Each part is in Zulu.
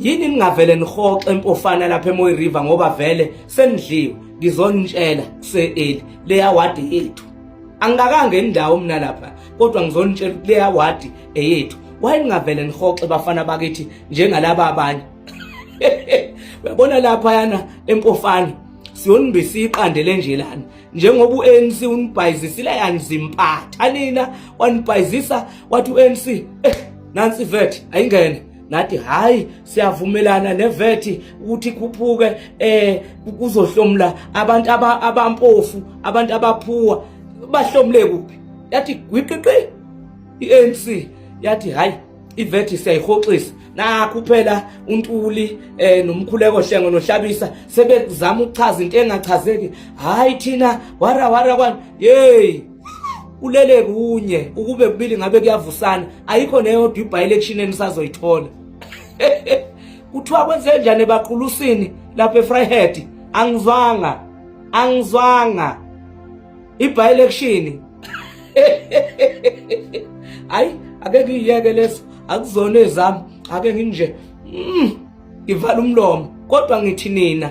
yini ningavele nihoxe mpofana lapha emoyi river ngoba vele senidliwe ngizonitshela kuseeli leya wadi yethu angikakanga indawo mina lapha kodwa ngizonitshela ukuthi leya wadi eyethu wayengavele nihoxe bafana bakithi njengalaba abanye uyabona lapha yana empofana siyonibisa iqande lenjelani njengoba uANC unibhayizisile yanzimpatha nina wanibhayizisa wathi uANC eh nansi vet ayingene ngathi hayi siyavumelana nevethi ukuthi ikhuphuke eh kuzohlomla abantu abampofu abantu abaphuwa bahlomle kuphi yathi gwiqiqi iANC yathi hayi ivethi siyayihoxisa nakho phela untuli eh nomkhuleko hlengo nohlabisa sebekuzama ukuchaza into engachazeki hayi thina wara wara kwani hey ulele kunye ukube kubili ngabe kuyavusana ayikho neyodwa ibi-election enisazoyithola kuthiwa kwenze njani ebaqulusini lapha efryhead angizwanga angizwanga ibi-election hayi ake ngiyiyeke leso akuzona ezami ake nginje mm, ngivala umlomo kodwa ngithi nina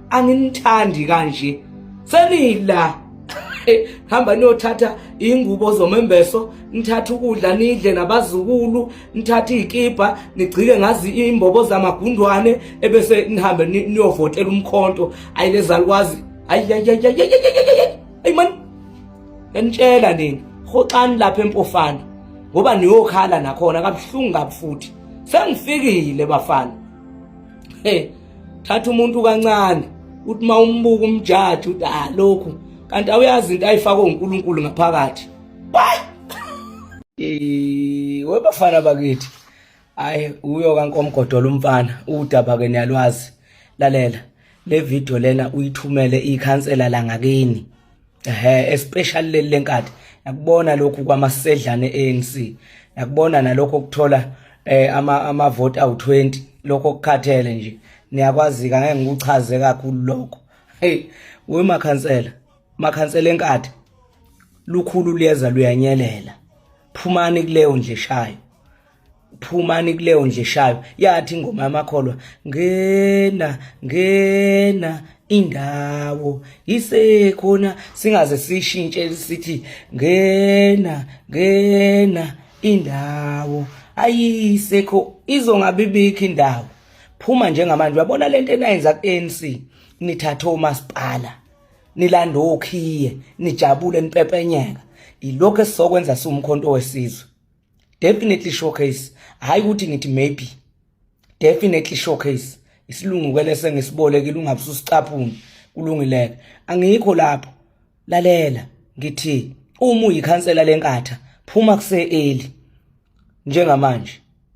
anginithandi kanje senila hamba niyothatha ingubo zomembeso nithatha ukudla nidle nabazukulu nithatha izikibha nigcike ngazi imbobo zamagundwane ebese nihambe niyovotela umkhonto ayilezalukwazi ayi man yanitshela nini hoxani lapha empofana ngoba niyokhala nakhona kabuhlungu kabufuthi sengifikile bafana hey thatha umuntu kancane uthi uma umbuka umjaji uthi ah lokhu kanti awuyazi into ayifakwe uNkulunkulu ngaphakathi bye eh webafana bakithi hayi uyo kankomgodola umfana udaba ke niyalwazi lalela le video lena uyithumele ikhansela la ngakini ehe especially leli lenkadi nakubona lokhu kwamasedlane ANC nakubona nalokho ukuthola eh ama ama vote awu20 lokho kukhathele nje niyakwazi ka ngeke ngikuchaze kakhulu lokho hey we makhansela makhansela enkadi lukhulu liyeza luyanyelela phumani kuleyo nje shayo phumani kuleyo nje shayo yathi ingoma yamakholwa ngena ngena indawo isekhona singaze sishintshe sithi ngena ngena indawo ayisekho izongabibikho indawo phuma njengamanje uyabona lento enayenza ku-ANC nithathe omasipala nilanda okhiye nijabule nipepenyeka yilokho esizokwenza siwumkhonto wesizwe definitely showcase hayi ukuthi ngithi maybe definitely showcase isilungu kwelese ngisibolekile ungabususicaphuni kulungileke angikho lapho lalela ngithi uma uyikhansela lenkatha phuma kuseeli njengamanje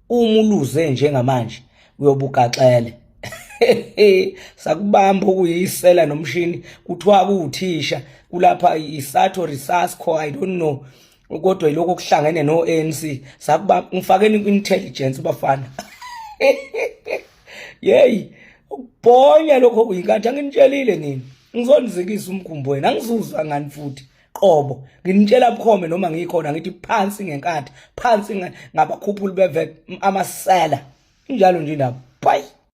uma uluze njengamanje uyobugaxele sakubamba okuyisela nomshini kuthiwa kuwuthisha kulapha isatho resusco i don't know kodwa yiloko kuhlangene no ANC sakuba ngifakeni ku intelligence bafana yey ukubhonya lokho kuyinkathi anginitshelile nini ngizonizikisa umkhumbo wena angizuzwa ngani futhi qobo nginitshela bukhome noma ngikhona ngithi phansi ngenkathi phansi ngabakhuphuli beve amasela injalo nje nabo bye